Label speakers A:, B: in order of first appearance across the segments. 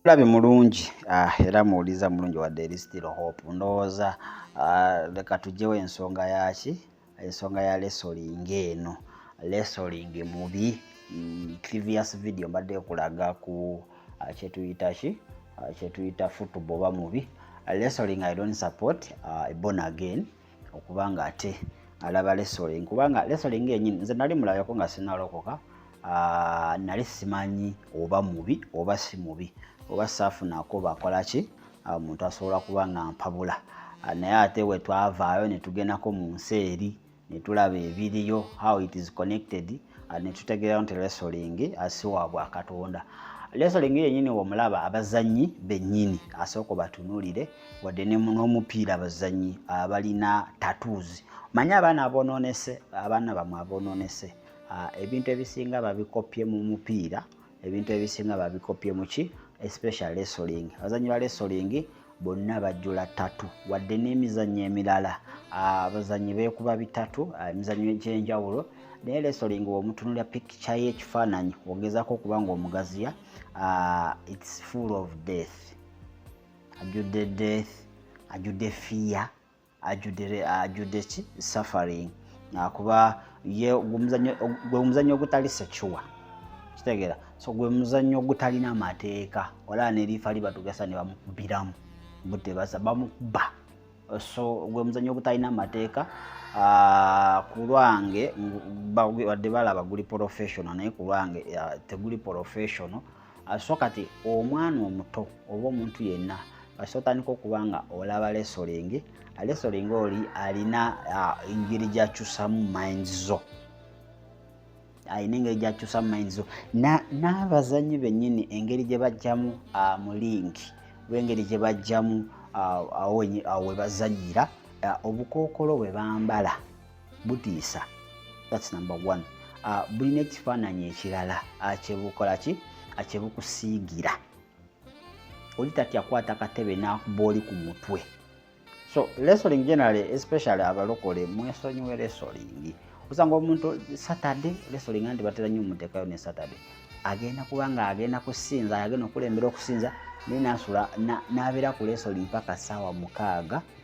A: Mulabi mulungi ah, era muwuliza mulungi wadde eri still hope ndowooza ah, leka tugyewo ensonga yaki ensonga ya lesoling eno lesoling mubi mm, previous video mbadde kulaga ku ah, kyetuyita ki kyetuyita football ba mubi lesoling i don't support born again okuba nga ate alaba lesoling kubanga lesoling yenyini nze nali mulabako nga sinalokoka ah, nali simanyi oba mubi oba si mubi oba saafunako bakolaki ah, omuntu asobola kuba nga mpabula ah, naye ate wetwavaayo netugendako mu nsi eri netulaba ebiriyo how it is connected ah, netutegeerawo nti resolingi asiwa ah, bwa katonda resolingi yenyini womulaba abazanyi benyini asooka batunulire wadde n'omupiira abazanyi abalina ah, tattoos manye abaana abononese abaana bamwe abononese ebintu ebisinga babikoppye mu mupiira ebintu ebisinga babikopye muki especial resoling abazanyi ba resoling bonna bajjula tatu wadde n'emizannyo emirala ah, abazanyi beekuba bitatu ah, emizannyo egyenjawulo naye resoling womutunulira pikica ye ekifaananyi ogezako okuba nga omugaziya ah, its full of death ajudde death ajudde fear ajudde ki suffering akuba ye gwemuzanyo ogutali secuwa kitegeera so gwe muzannyo ogutalina amateeka olaba neriifa libatugasa ne bamukubiramu butebasa bamukuba so gwe muzannyo ogutalina amateeka ah, ku lwange wadde balaba guli professional naye ku lwange ah, teguli professional so kati omwana omuto oba omuntu yenna kasita otandika okuba nga olaba lesolingi lesolingi oli alina engeri gyakyusamu minds zo alina engeri gyakyusamu minds zo n'abazanyi bennyini engeri gye bajjamu mu linki oba engeri gye bajjamu awo we bazanyira obukookolo bwe bambala butiisa thats number one uh, bulina ekifaananyi ekirala akyebukola ki akyebukusiigira oli tatya kwata katebe nakuba oli ku mutwe so lesoling generally especially abalokole mwesonyiwe lesoling osanga omuntu saturday lesoling andi batera nyo omutekayo ne saturday agenda kuba nga agenda kusinza agenda okulembera okusinza naye nasula nabeera ku lesoling paka saawa mukaaga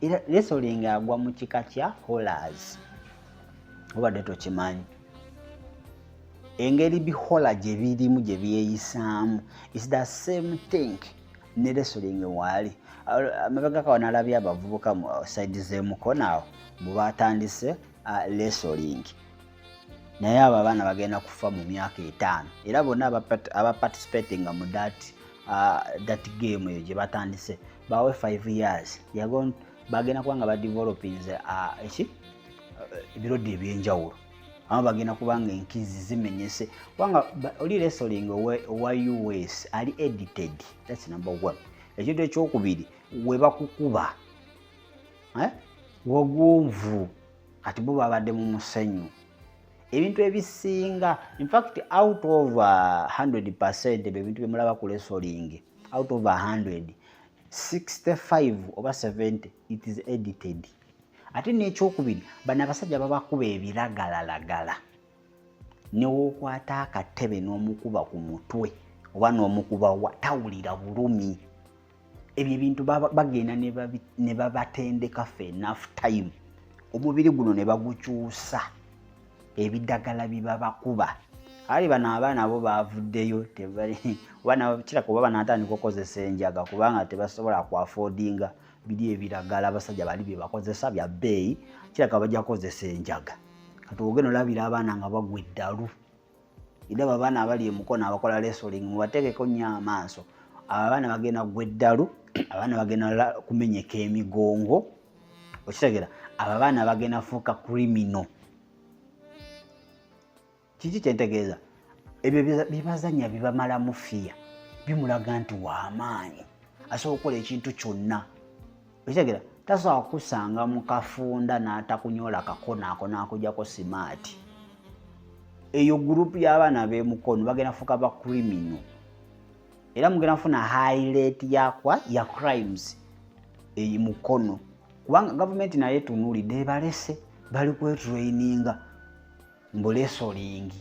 A: era resoling agwa mu kika kya holas obadde tokimanyi engeri bihola gye birimu gye byeyisaamu is the same thing ne resoling waali amabega kawa nalabye abavubuka mu saidi z'emukono awo mbu batandise resoling uh, naye abo abaana bagenda kufa mu myaka etaano era bonna abaparticipatinga mu dat uh, dat game eyo gye batandise bawe 5 years bagenda kuba nga badevelopings uh, eki uh, ebirodi ebyenjawulo ama bagenda kuba nga enkizi zimenyese kubanga oli resoling owa us ali edited thats number one ekintu ekyokubiri webakukuba eh? wagonvu kati bo babadde mu musenyu ebintu ebisinga infact out of 100 uh, percent ebyo ebintu byemulaba ku lesolingi out of 100 65 oba 70 it is edited ate n'ekyokubiri bano abasajja babakuba ebiragalalagala newokwata akatebe n'omukuba ku mutwe oba n'omukuba wa tawulira bulumi ebyo ebintu bagenda ne babatendeka fe enough time omubiri guno ne bagukyusa ebidagala bibabakuba ali bano abaana bo bavuddeyo kiraka oba banatandika okukozesa enjaga kubanga tebasobola kuafodinga biri ebiragala abasajja bali byebakozesa bya bbeeyi kiraka bajja kukozesa enjaga kati ogenda olabira abaana nga bagwa eddalu Idaba abaana abali emukono abakola wrestling mubateekeko nnyo amaaso. Abo abaana bagenda kugwa eddalu, abaana bagenda kumenyeka emigongo. Okitegera? Abo abaana bagenda fuuka criminal. Kiki kye ntegeeza? Ebyo bye bazannya bibamalamu fiya, bimulaga nti wa maanyi, asobola okukola ekintu kyonna. okitegera tasobola kukusanga mu kafunda n'atakunyola kakonaako n'akujako simaati eyo gurupu y'abaana b'emukono bagenda kufuuka ba krimino era mugenda kufuna high rate yakwa ya crimes eyi mukono kubanga gavumenti naye etunuulidde ebalese bali kwetraininga mbu lesolingi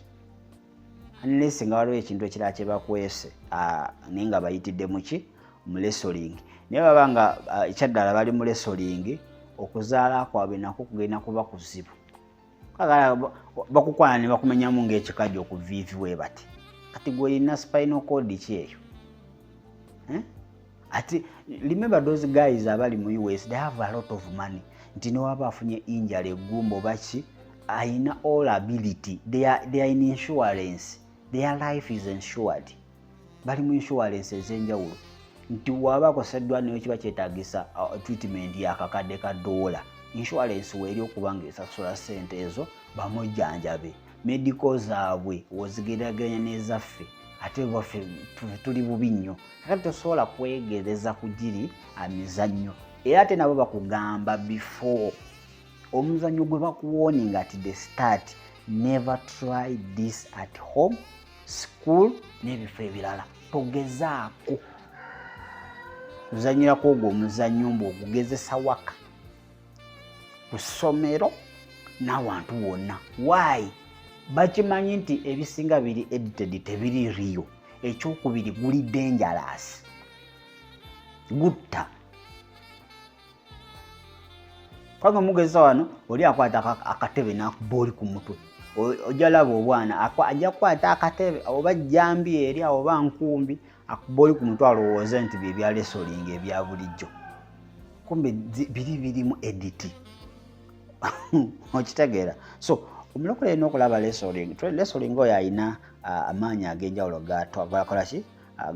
A: unless nga waliwo ekintu ekirala kyebakwese ah, naye nga bayitidde muki mu lesolingi naye baba nga ah, ekyaddala bali mu lesolingi okuzaala kwabwe nako kugenda kuba kuzibu kagala bakukwana ne bakumenyamu ngaekikaji okuviivi webati kati gweyina spinal code ki eyo eh? ati remember those guys abali mu us they have a lot of money nti newaba afunye injala egumba obaki ayina all ability they are, they are in insurance their life is insured bali mu insurance ezenjawulo nti waba akoseddwa nayo kiba kyetagisa uh, treatment yakakadde ka doola insurance weeri okubanga esasula sente ezo bamujjanjabe medical zaabwe wozigeraganya n'ezaffe ate waffe tuli bubi nnyo kakati tosobola kwegereza ku giri amizannyo era ate nabo bakugamba before omuzannyo gwe bakuwoninga ati the start never try this at home school n'ebifo ebirala togezaako kuzanyirako ogwo omuzannyo mbu ogugezesa waka ku ssomero n'awantu wonna waayi bakimanyi nti ebisinga biri edited tebiri riyo ekyokubiri guli dangerous gutta kwange mugeza wano oli akwata akatebe nakuba oli ku mutwe ojalaba obwana ajja kukwata akatebe oba jambi eri oba nkumbi akuba oli ku mutwe alowooze nti bye bya lesolinga ebya bulijjo kumbe biri birimu editi okitegeera so omulokole alina okulaba lesoling lesoling oyo alina amaanyi ag'enjawulo gakola ki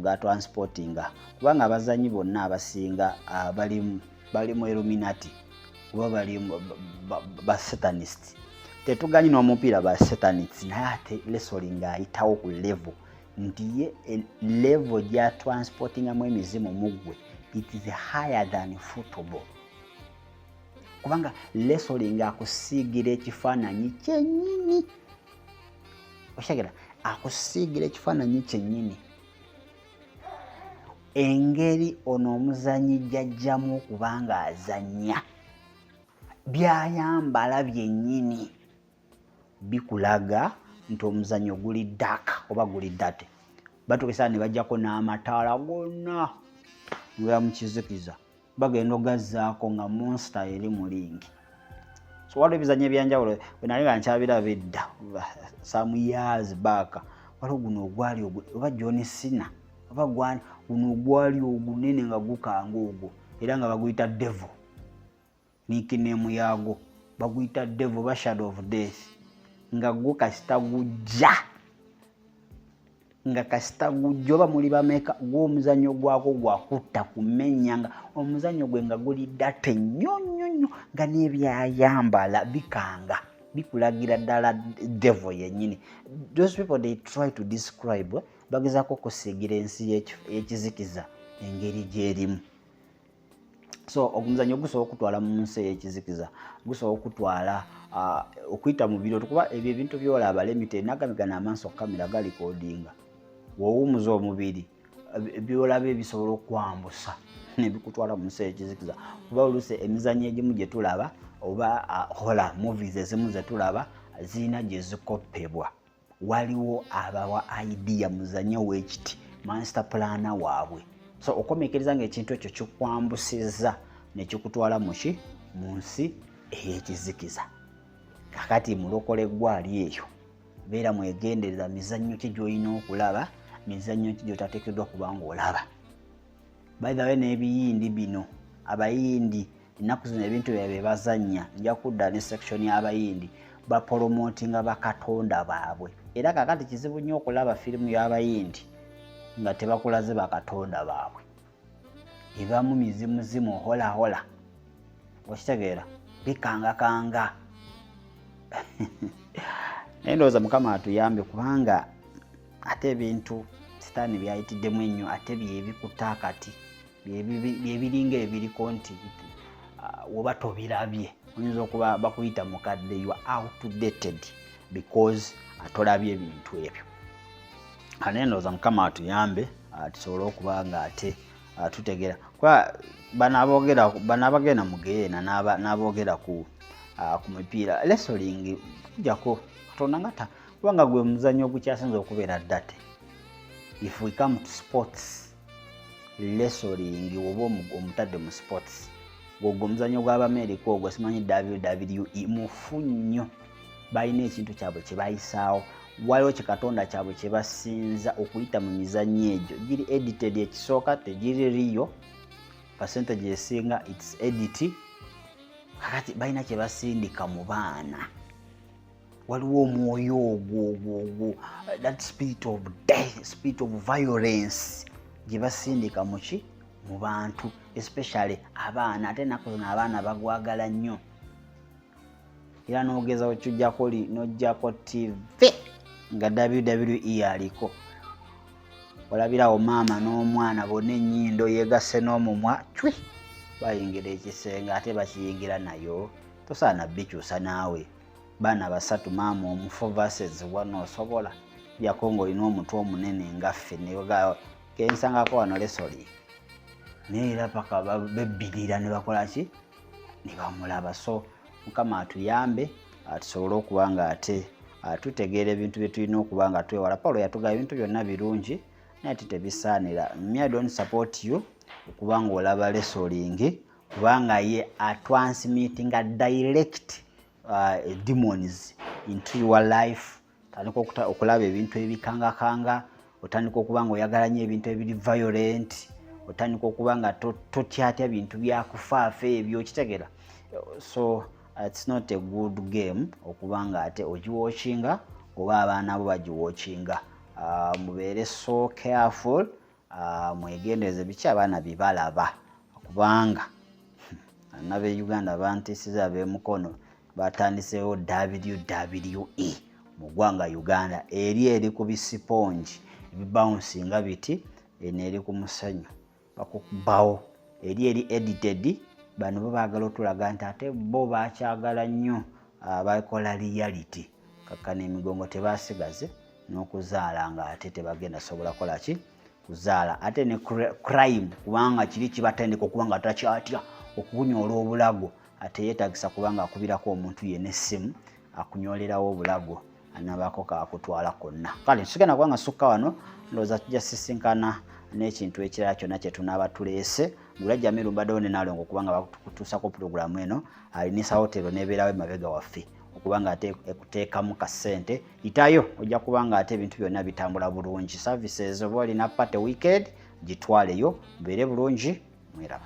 A: gatransportinga kubanga abazanyi bonna abasinga bali mu illuminati kuba bali basatanist tetuganyi n'omupiira ba satanists naye ate lesoling ayitawo ku level nti ye eh, level gya transportingamu emizimu muggwe it is higher than football kubanga lesoli nga akusiigira ekifaananyi kyenyini okitegera akusiigira ekifaananyi kyenyini engeri ono omuzanyi jajjamu okubanga azanya byayambala byenyini bikulaga nti omuzanyo guli dak oba guli date batukesana nebajjako n'amataala gonna nga mukizikiza bagenda ogazzaako nga monsta eri mu lingi so waliwo ebizanyo ebyanjawulo wenali nga nkyabira bedda some years back waliwo guno ogwali oba john sina oba guno ogwali ogunene nga gukanga ogwo era nga baguyita devo nikinemu yaago baguyita devo ba shadow of death nga gwo kasita gujja nga kasita gujja oba muli bameka gwomuzanyo gwako gwakutta kumenya nga omuzanyo gwe nga guli date nnyo nnyo nnyo nga nebyayambala bikanga bikulagira ddala devo yenyini those people they try to describe eh? bagezako okusiigira ensi y'ekizikiza engeri gyerimu so omuzanyo gusobola okutwala mu nsi eyekizikiza gusobola okutwala uh, okuyita mu biro tukuba ebyo ebintu byolaba lemite nagamigana amaaso kamera gali kodinga wowumuza omubiri byolaba ebisobola okwambusa nebikutwala mu nsi eyekizikiza kuba olusi emizanyo egimu gyetulaba oba uh, hola movies ezimu zetulaba ziina gyezikoppebwa waliwo abawa idea muzanye owekiti master plana waabwe so okomekereza nga ekintu ekyo kikwambusizza nekikutwala muki mu nsi ey'ekizikiza kakati mulokole gwali eyo beera mwegendereza mizannyo ki gyolina okulaba mizannyo ki gyotateekeddwa kubanga olaba baithawe n'ebiyindi bino abayindi ennaku zino ebintu bya bebazannya nja kudda ne section y'abayindi bapolomotinga bakatonda baabwe era kakati kizibu nnyo okulaba firimu y'abayindi nga tebakulaze bakatonda baabwe ebamu mizimuzimu holahola okitegeera bikangakanga naye ndowooza mukama atuyambe kubanga ate ebintu sitaani byayitiddemu ennyo ate byebikuta kati byebiringa ebiriko nti uh, woba tobirabye oyinza okuba bakuyita mukadde you outdated because atolabye ebintu ebyo anendoza mukama atuyambe uh, tusobole okuba nga ate uh, tutegera kuba banabagenda mugeyeena nabogera ku ku mipiira lesolingi kujako katonda nga kubanga gwe muzanyo ogukyasinza okubeera date if we come to sports lesoling woba omutadde mu sports gwogwo omuzanyo gw'abamerika ogwo simanyi wwe mufu nnyo balina ekintu kyabwe kyebayisaawo waliwo kikatonda kyabwe kyebasinza okuyita mu mizanyo egyo giri edited ekisooka tegiri riyo percentage esinga its edit kakati balina kyebasindika mu baana waliwo omwoyo ogwo ogwo ogwo that spirit of death spirit of violence gye basindika muki mu bantu especially abaana ate enaku zino abaana bagwagala nnyo era nogeza wekyujjako li nojjako tv nga wwe aliko olabirawo maama n'omwana bona enyindo yegasse n'omumwa cwi bayingira ekisenge ate bakiyingira nayo tosaana bikyusa naawe baana basatu maama omu four verses one osobola jako nga olina omutwe omunene nga ffe kensangako wano lesoli naye era paka bebbirira ne bakola ki ne bamulaba so mukama atuyambe tusobole okuba nga ate tutegeera ebintu bye tulina okuba nga twewala pawulo yatugaba ebintu byonna birungi naye ate tebisaanira me i don't support you okuba nga olaba lesolingi kubanga ye atransmittinga direct uh, demons into your life tandika okulaba ebintu ebikangakanga otandika okuba nga oyagala nyo ebintu ebiri violent otandika okuba nga totyatya bintu byakufaafa ebyo okitegera so uh, its not a good game okuba nga ate ogiwokinga oba abaana bo bagiwokinga uh, mubeere so careful Ah, mwegendereze biki abaana byebalaba kubanga hmm, nabe uganda bantisiza bemukono batandisewo wwe mu gwanga uganda eri eri ku bisipongi ebibawunsi nga biti eno eri ku musanyu bakubawo eri eri edited bano bo bagala otulaga nti ate bo bakyagala nnyo ah, bakola reality kakkana emigongo tebasigaze n'okuzaala nga ate tebagenda sobola kola ki kuzaala ate ne crime kubanga kiri kibatendeka okuba nga takyatya okukunyoola obulago ate yeetagisa kubanga akubirako omuntu yena essimu akunyoolerawo obulago anabaako kakutwala konna kale tusigenda kuba nga sukka wano ndowooza tujja sisinkana n'ekintu ekirala kyonna kye tunaaba tuleese gulajja mirumbaddewo ne nalongo kubanga bakutuusa ku pulogulaamu eno aliniisa wotero n'ebeerawo emabega waffe okuba nga ate ekuteekamu ka ssente yitayo ojja kuba nga ate ebintu byonna bitambula bulungi services oba olina party wicked gitwaleyo mubeere bulungi mweraba